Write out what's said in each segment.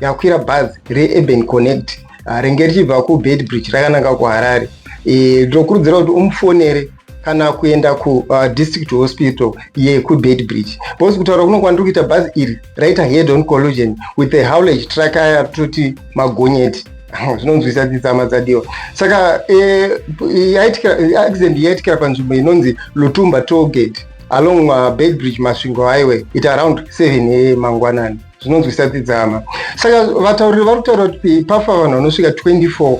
yakwira bhazi reurban connect ah, renge richibva kubedbridge rakananga kuharare eh, ndinokurudzira kuti umufonere kana kuenda kudistrict ah, hospital yekubedbridge bcause kutaura kuno kwandiri kuita bhazi iri raita head on collusion with a howlage truck aya toti magonyeti zvinonzwisa dzitsama dzadiwa saka eh, accident yaitikira panzvimbo inonzi lutumba tolgate along uh, bedbridge masvingo highway it around 7 a mangwanani zvinonzwisa tidzama saka vatauriri vari kutaura kuti pafa vanhu vanosvika 24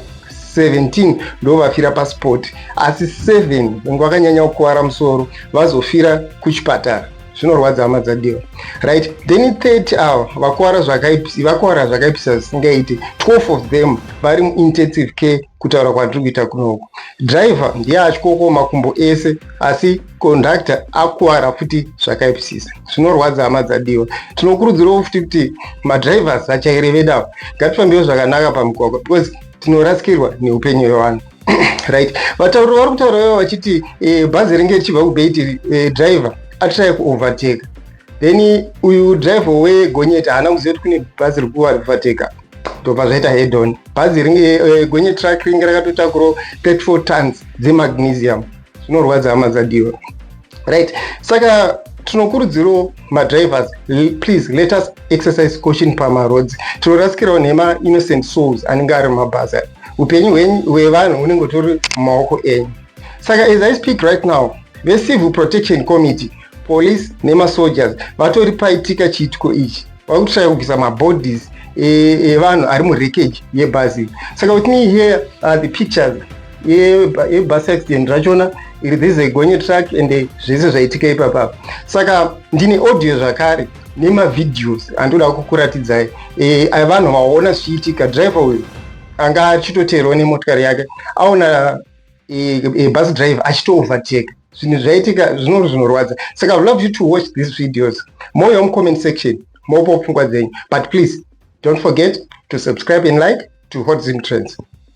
17 ndo vafira pasport asi 7 venge vakanyanya kukuvara musoro vazofira kuchipatara zvinorwadza hama dzadiwa right then 30 ava vakuvara zvakaipisivakuvara zvakaipisa zvisingaiti 12 of them vari muintensive care kutaura kwandiri kuita kunoku driver ndiye atyoko makumbo ese asi conductor akuwara futi zvakaipisisa zvinorwadza hama dzadiwa tinokurudzirawo futi kuti madrivers achaire vedawo ngatifambiwo zvakanaka pamugwagwa because tinorasikirwa neupenyu hwevanhu right vatauri vari kutaura ivo vachiti eh, bhazi ringe richibva kubeti eh, driver atrai kuovertake then uyu driver wegonyeti haana kuziva kuti kune bhazi rikuovertake ndobva zvaita hedon bhazi ringe eh, gonyeti truck ringe rakatotakurawo 34 tons dzemagnesium zvinorwadza hama dzadiwa right saka tinokurudzirawo madrivers please let us exercise caution pamaroads tinorasikirawo nhema innocent souls anenge ari mumabhazi ayo upenyu hwevanhu hunenge tori mumaoko enyu saka as i speak right now vecivil protection committee police nemasoldiers vatori paitika chiitiko ichi vari kutsvaya kubvisa mabodies evanhu e, e ari murekeji yebhazi saka with me here are the pictures yebus accident rachona this a gonye truck and zvese zvaitika ipapa saka ndine audio zvakare nemavideos andoda kukuratidzai e, vanhu vaona zvichiitika driver uyu anga achitoteerwa nemotikari yake aona e, e, bus driver achitooverteka zvinhu zvaitika zvinori zvinorwadza saka love you to watch these videos more yom comment section mopo pfungwa dzenyu but please don't forget to subscribe and like to hot zim trends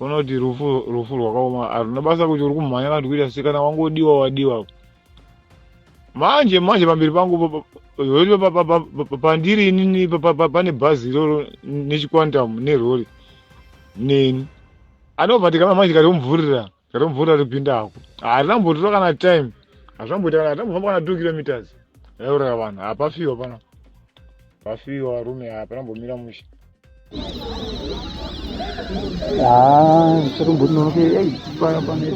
unoti rufu rufu rwakaoma haruna basa kuti uri kumhanya kana kuti kuita sei kana wangodiwa wadiwa manje manje pamberi pangu pandiri inini pane bhazi iroro nechiquantum nerori neni anobva ndikama manje kati omuvhurira Chero mvura ripinda hako. Hazvina mbotora kana time. Hazvina mboita kana hazvina mbofamba kana 2 kilometers. Yauraya vanhu. Hapafiwa pana. Pafiwa varume hapana mbomira mushe. Ah, chero mbotora nonoke. Ei, paya pana.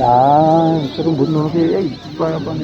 Ah, chero mbotora nonoke. Ei, paya pana.